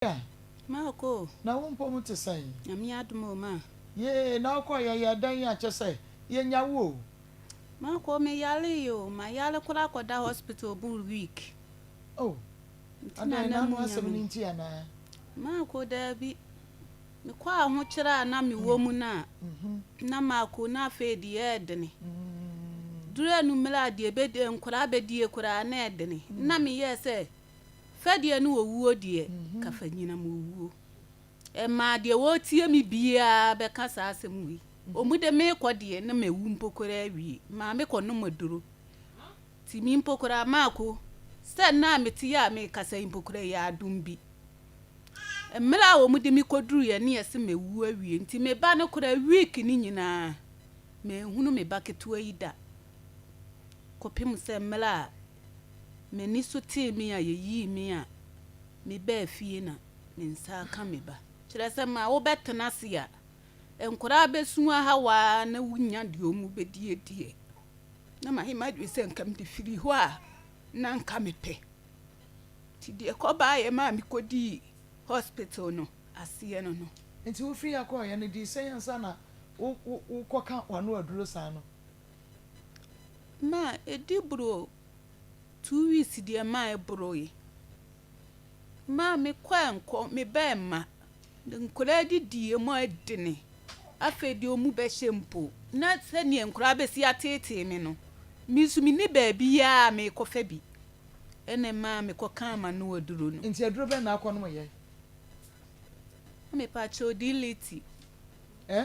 Maria. Ma ɔkɔ o. Na wo mpɔ mu te sɛn. Nyame adom o ma. Yee na ɔkɔ yɛ yɛ dɛn a kyɛ sɛ yɛ nya wo o. Ma ɔkɔ me yare yi o. Ma yare kora kɔ da hospital bur week. Oh adɛn na ano asɛm no nti anaa. Ma ɔkɔ daabi me kɔ a ho kyere a na me wɔ mu no a na ma ɔkɔ na afei de yɛ dene duru anumere a deɛ bɛ nkora bɛ die koraa na ɛdene na me yɛ sɛ Fɛdeɛ ne owuo deɛ ka fa nyinam owuo. Ɛmaa deɛ ɔretie me biara bɛka saa asɛm wei. Ɔmu de meekɔ deɛ na mawu mpo koraa wie. Maame kɔ nom aduro. Nti me mpo koraa maako sɛ nna a mete yɛ a meekasa yi mpo koraa ɛyɛ adom bi. Mmerɛ a ɔmu de me kɔduruiɛ ne yɛse mawu awie. Nti me ba no koraa week no nyinaa manhunu me ba ketewa yi da. Kɔpem sɛ mmerɛ a m'ani so tee me a yeyii me a mebaa fie na me nsa aka me ba. Kyerɛ sɛ ma wobɛtena ase a, nkwadaa bɛsu ahaw ara na wonya deɛ wɔbɛdi adiɛ. Na mayɛ m'adwene sɛ nka mede firi hɔ a, na nka mepɛ. Nti deɛ ɛkɔbaeɛ maa mekɔdii hospital no aseɛ no no. Nti wofiri ha kɔeɛ no, dii sɛn ansa na wokɔka w'ano aduro saa no? ma edi boro two weeks deɛ ma ɛboroe. Ma mekɔ a nkɔ, meba a mma. Nkwadaa de di emu ayɛ dene. Afei deɛ wɔn mu bɛhyɛ mpo. Na sɛdeɛ nkwadaa bɛsi ateetee me no, me nso menni baabiara a merekɔfa bi. Ɛna ɛma mekɔkaa m'ano aduro no. Nti aduro bɛn na akɔnom yɛ? Mepatwɛ odi liti. Eh?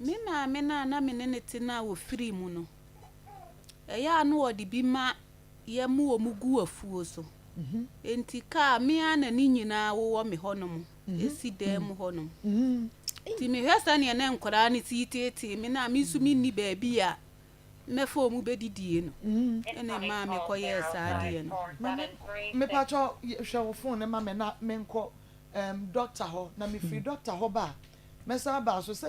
Me maame no a na me ne no te no a ɔfirii mu no, ɛyɛ a na ɔde bi ma yɛ ma wɔn gu afuo so. Mhm. Enti kaa me a na ne nyinaa wowɔ me hɔnom, mhm. ɛsi dan mu hɔnom. Mhm. Nti mehwɛ sɛdeɛ na nkwadaa no te teetee me no a me nso menni baabi a mɛfa ɔmu bɛdidie no mm-hmm. ɛna ɛmaa mekɔyɛɛ saa adeɛ no mepatwɔ hwɛ wo fon no ma me na menkɔ um, dɔkta hɔ na mefiri mm. dɔkta hɔ ba a mɛsan baa so sɛ